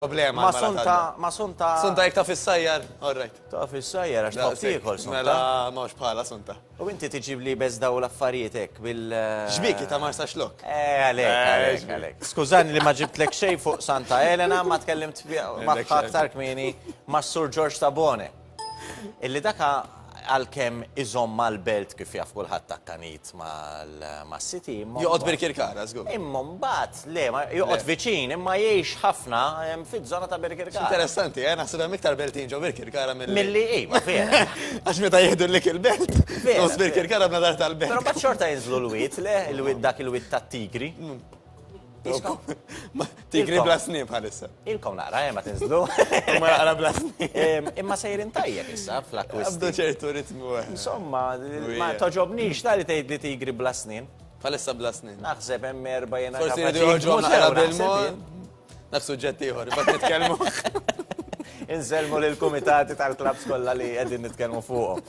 problema Ma' l-mara sunta, tgħadda. ma' sunta. Sunta jekk taf is-sajjar, all right. Taf is-sajjar għax tħobb Daqshekk. tiekol, sunta. Mela m'hawnx bħalha, sunta. U inti tiġib li bes daw l-affarijiet hekk bil. X'bik hi ta' Marsaxlokk? Eh, għalhekk, Eh, għalhekk, x'bik. għalhekk. Skużani li ma ġibtlek xejn fuq Santa Elena, ma tkellimt fi- magħha aktar kmieni mas-Sur Ġorġ Tabone. Illi dak għalkemm iżomm mal-belt kif jaf kulħadd akkanit mas-siti. Joqgħod Birkirkara, żgur. Imma mbagħad, le, joqgħod viċin, imma jgħix ħafna fiż-żona ta' Birkirkara. Interessanti, eh, naħseb hemm iktar beltin ġo Birkirkara milli. Milli, iva, vera. Għax meta jieħdu l-lik il-belt, nos Birkirkara b'nadar tal-belt. Però mbagħad xorta jinżlu l-wied, le, dak il-wied tat-tigri. Tigri bla snib bħalissa. Ilkom naqra, eh, ma tinżlu. Imma naqra bla snib. Imma sejrin tajjeb issa fl-akkwist. Għabdu ċertu ritmu. Eh. Insomma, ma toġobnix tali tgħid li tigri bla snin. Bħalissa bla snin. Naħseb hemm erba' jena. Forsi jridu joħġu naqra bil-mod. Naf suġġett ieħor, imbagħad nitkellmu. Inselmu lill-kumitati tal-klabs kollha li qegħdin nitkellmu fuqhom.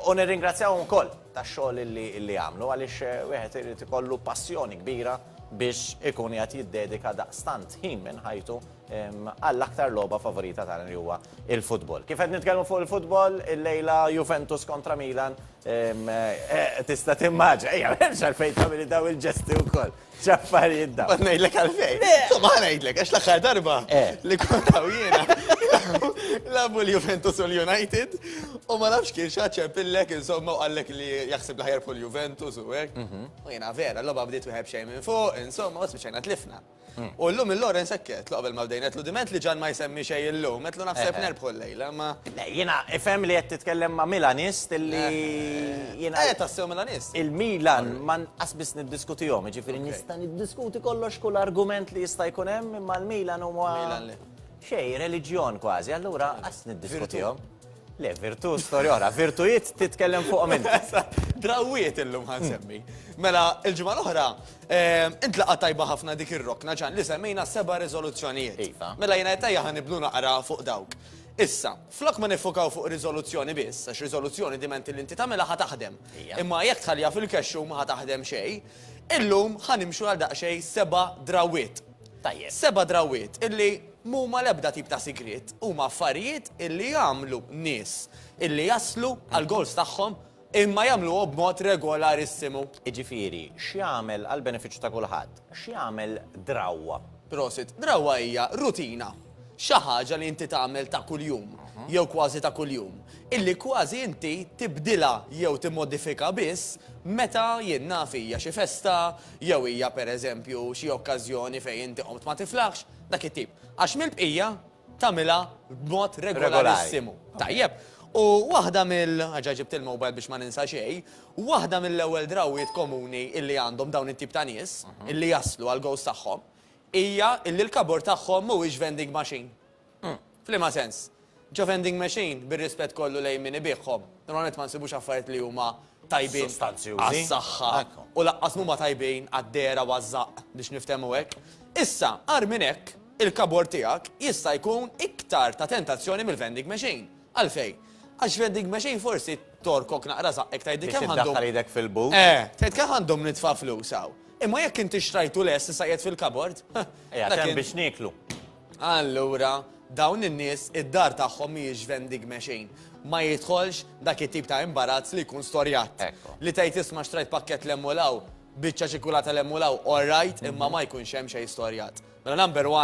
U nirringrazzjawhom ukoll tax-xogħol li jagħmlu għaliex wieħed irid ikollu passjoni kbira biex ikun qiegħed jiddedika daqstant ħin minn ħajtu għall-aktar logħba favorita tagħna li huwa il-futbol. Kif qed nitkellmu fuq il-futbol, il-lejla Juventus kontra Milan eh, tista' timmaġa, ejja, hemm xalfejn tagħmel daw il-ġesti wkoll. X'affarijiet dawn. Ma ngħidlek għalfejn. Insomma ħa ngħidlek għax l-aħħar darba eh. li kont hawn jiena labu l-Juventus u l-United u ma nafx kien xaċċer pillek insomma u qallek li jaħseb l-ħajar fuq l-Juventus u hekk. Mhm. U jiena vera, l-logħba bdiet wieħed xejn minn fuq, insomma, u spiċċajna tlifna. Mm. U llum il-Lorenz sekket, qabel ma bdejnet l diment li ġan ma jsemmi xejn illum, qed naħseb eh, eh. nerbħu l Ilhama. Le, jiena ifhem li qed titkellem ma' Milanist li jiena. Eh, tassew Milanist. Il-Milan ma nqas biss niddiskutihom, jiġifieri nista' niddiskuti kollox kull argument li jista' jkun hemm imma l-Milan huwa. Milan le. Xejn, reliġjon kważi, allura qas niddiskutihom. Le, virtu storja oħra, virtujiet titkellem fuqhom int. Drawwiet illum ħa nsemmi. Mela, il-ġimgħa l-oħra Int laqgħa tajba ħafna dik ir-rokna Ġan li semmejna s-seba' riżoluzzjonijiet. Iva. Mela jiena qed ejja ħa nibnu naqra fuq dawk. Issa, flok ma niffukaw fuq riżoluzzjoni biss, għax riżoluzzjoni diment li inti tagħmilha ħa taħdem. Hija. Imma jekk tħalliha fil-kexxu ma ħa taħdem xejn. Illum ħa nimxu għal daqsxejn seba' drawwiet. Tajjeb. Seba' drawwiet illi m'huma l-ebda tip ta' sigriet, huma affarijiet illi jagħmlu nies illi jaslu għall-goals tagħhom Imma jagħmluha b'mod regolarissimu. Jiġifieri, x'jagħmel għall-benefiċċju ta' kulħadd, x'jagħmel drawwa? Prosit. Drawwa hija rutina. Xi ħaġa li inti tagħmel ta' kuljum, jew kważi ta' kuljum, illi kważi inti tibdilha jew timmodifika biss meta, jien naf, hija xi festa, jew hija, pereżempju, xi okkażjoni fejn inti qomt ma tiflaħx, dak it-tip. Għax mill-bqija, tagħmilha b'mod regolarissimu. Tajjeb. U waħda mill, ġa ġibt il-mobile biex ma ninsa xejn, waħda mill-ewwel drawwiet komuni illi għandhom dawn it-tip ta' nies illi jaslu għall-ghost tagħhom hija illi l-kabur tagħhom mhuwiex vending machine. F'liema sens? Ġo vending machine, bir-rispett kollu lejn min ibiegħhom, normalment ma nsibux affarijiet li huma tajbin għas-saħħa u lanqas mhuma tajbin għad-dehra u għaż-żaqq biex niftehmu hekk. Issa, agħar minn hekk, il-kabord tiegħek jista' jkun iktar ta' tentazzjoni mill-vending machine. Għalfejn? Għax vending machine forsi tgħorkok naqra żaqqek tgħidli kemm għandhom. Biex iddaħħal idek fil-but. Eh, tgħid kemm għandhom nitfa' flus hawn. Imma jekk inti xtrajtu lest issa qiegħed fil-kabord, ha! Qiegħed hemm biex nieklu. Allura, dawn in-nies id-dar tagħhom mhijiex vendigme xejn. Ma jidħolx dak it-tip ta' imbarazz li jkun storjat. Li tgħid isma' xtrajt pakkett l' hemm u l hawn, biċċa ċikulata l hemm u l hawn, all right, imma ma jkunx hemm xejn storjat. Mela number one.